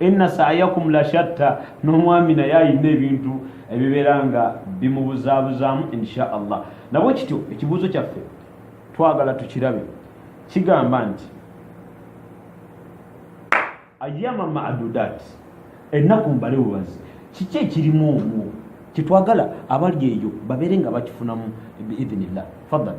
inna sa'yakum la shatta n'omwami naye alina ebintu ebibeera nga bimubuzaabuzaamu insha allah nabwe kityo ekibuuzo kyaffe twagala tukirabe kigamba nti ayama madudat ennaku mbale bubazi kiki ekirimu omwo kyetwagala abali eyo babeere nga bakifunamu biidhinillah fadal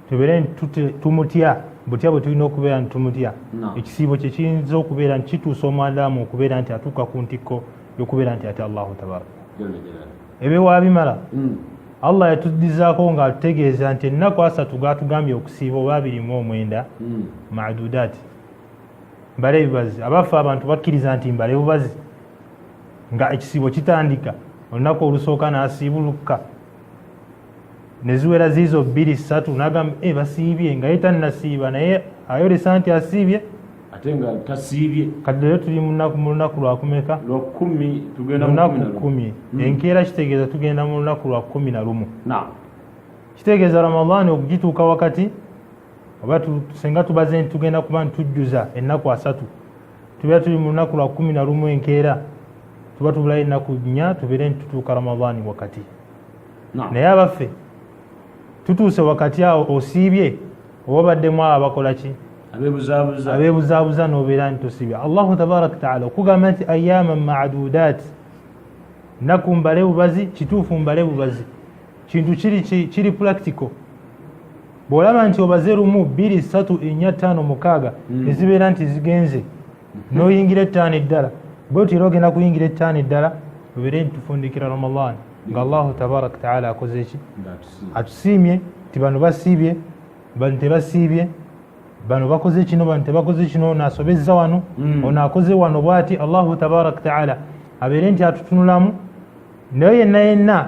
tubeere nti tumutya butya bwe tulina okubeera nti tumutya ekisiibo kye kiyinza okubeera nti kituusa omwandamu okubeera nti atuuka ku ntikko yokubeera nti ate allahu tabaraka ebyewabimala hmm. allah yatuddizaako nga atutegeeza nti ennaku asatu gatugambye okusiiba oba abiri mu omwenda hmm. madudaati mbale ebibazi abaffe abantu bakkiriza nti mbale bubazi nga ekisiibo kitandika olunaku olusooka nasiibulukka neziwera ziizo bbiri ssatu nagamba e eh, basiibye nga ye tannasiiba naye ayolesa nti asiibye ate nga tasiibye kati leero tuli mu lunaku lwakumeka lunaku kumi hmm. enkeera kitegeeza tugenda mu lunaku lwa kumi na lumu kitegeeza ramadaani okugituuka wakati oba senga tubaze nti tugenda kuba ntujjuza ennaku asatu tubeera tuli mu lunaku lwa kumi na lumu enkeera tuba tubulayo ennaku nnya tubeere nti tutuuka ramadaani wakati naye abaffe tutuuse wakati awo osiibye oba baddemu abo abakola ki abeebuzaabuza nobeera nti tosiibye allahu tabaraka taala okugamba nti ayama madudaati naku mbale bubazi kituufu mbale bubazi kintu kiri kiri practical bwolaba nti obaze lumu bbiri satu enya ttaano mukaaga hmm. nezibeera nti zigenze noyingira ettaano eddala bwetyo era ogenda kuyingira ettaano eddala obeere nti tufundikira ramadan nga allahu tabaraka taala akoze eki atusiimye nti bano basiibye bano tebasiibye bano bakoze kino bano tebakoze kino ono asobezza wano hmm. ono akoze wano bwati allahu tabaraka taala abeere nti atutunulamu naye yenna yenna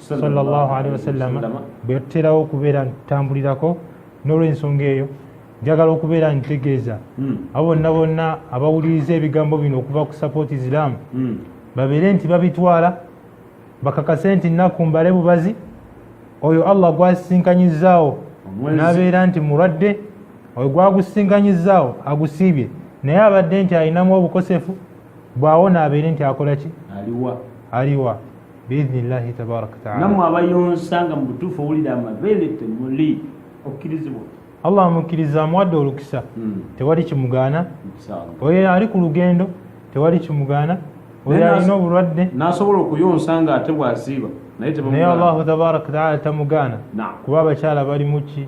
sallallahu alaihi wasallam bwe yatuterawo okubeera ntambulirako n'olwensonga eyo njagala okubeera ntegeeza hmm. abo bonna bonna abawuliriza ebigambo bino okuva ku support islam hmm. babeere nti babitwala bakakase nti nnaku mbale bubazi oyo allah gwasisinkanyizaawo nabeera nti mulwadde oyo gwagusisinkanyizaawo agusiibye naye abadde nti alinamu obukosefu bwawona abeere nti akola ki aliwa biidhnillahi tabaraka wataala namwe abayonsa nga mubutuufu owulira amabeere temuli okkirizibwa allah amukkiriza amuwadde olukisa hmm. tewali kimugaana oyo ali ku lugendo tewali kimugaana oyo alina obulwadde nasobola okuyonsa nga ate bwaziiba naye allahu tabaraka wataala tamugaana kuba abakyala balimuki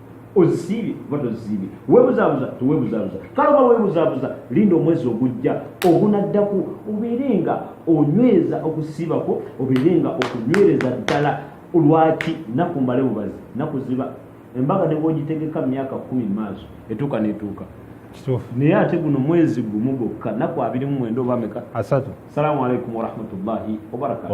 ozisiibye oba tozisiibye webuzabuza tewebuzabuza kale oba webuzabuza linda omwezi ogujja ogunaddako obeere nga onyweza okusiibako obeere nga okunywereza ddala lwaki naku mbale bubazi naku ziba embaga ne bwogitegeka mu myaka kumi mu maaso etuuka netuuka naye ate guno mwezi gumu gwokka naku abiri mu mwenda oba meka asatu salamu aleikum warahmatullahi wabarakatu